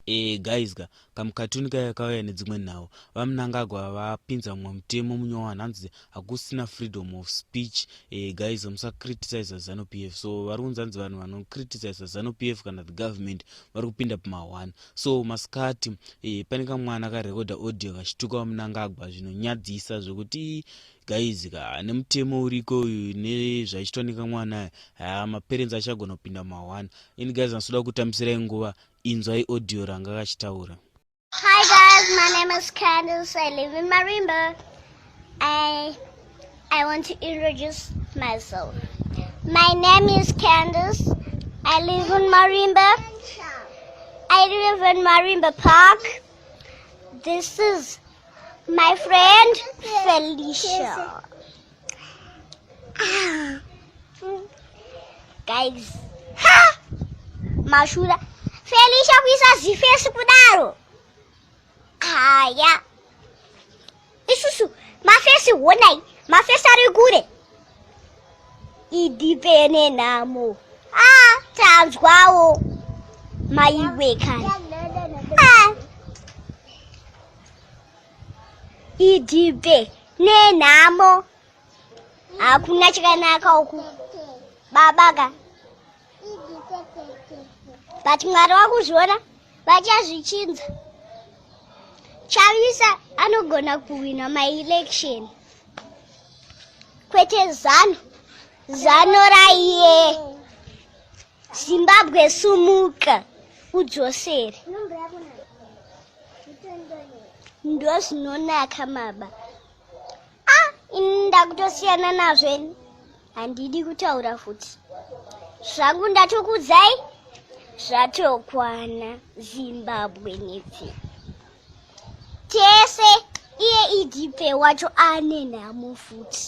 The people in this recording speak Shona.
Eh, guys ka kamukatuni kaya kauya nedzimwe nhau vamnangagwa vapinza mumwe mutemo munyowa nhanzi hakusina freedom of speech eh, guys musacriticiza zanu p f so vari kunzi anzi vanhu vanocriticiza zanu p f kana the government vari kupinda pamahwani so masikati eh, pane kamwana karekoda audio kachituka vamnangagwa zvinonyadzisa zvekuti guys ka nemutemo uriko uyu nezvaichitwa nekamwana aya haa maperenzi achagona kupinda mahwana ini guys nasoda kutambisirai nguva inzwai audio ranga kachitaura hi guys my name is candice i live in marimba i i want to introduce myself my name is candice i live in marimba i live in marimba park this is my friend felicia guys ha mashura felisha kuisa zifesi kudaro haya isusu mafesi honai mafesi ari kure idipene nhamo a ah, tanzwawo maiwekani idhibe nenhamo hakuna chakanaka uku babaka but mwari wakuzviona vachazvichinza chavisa anogona kuhwina maelection kwete zano zano raiye Zimbabwe sumuka udzosere ndozvinonaka maba a ah, ini ndakutosiyana nazvo ini handidi kutaura futi zvangu ndatokudzai zvatokwana zimbabwe nepfi tese iye idp wacho ane nhamo futi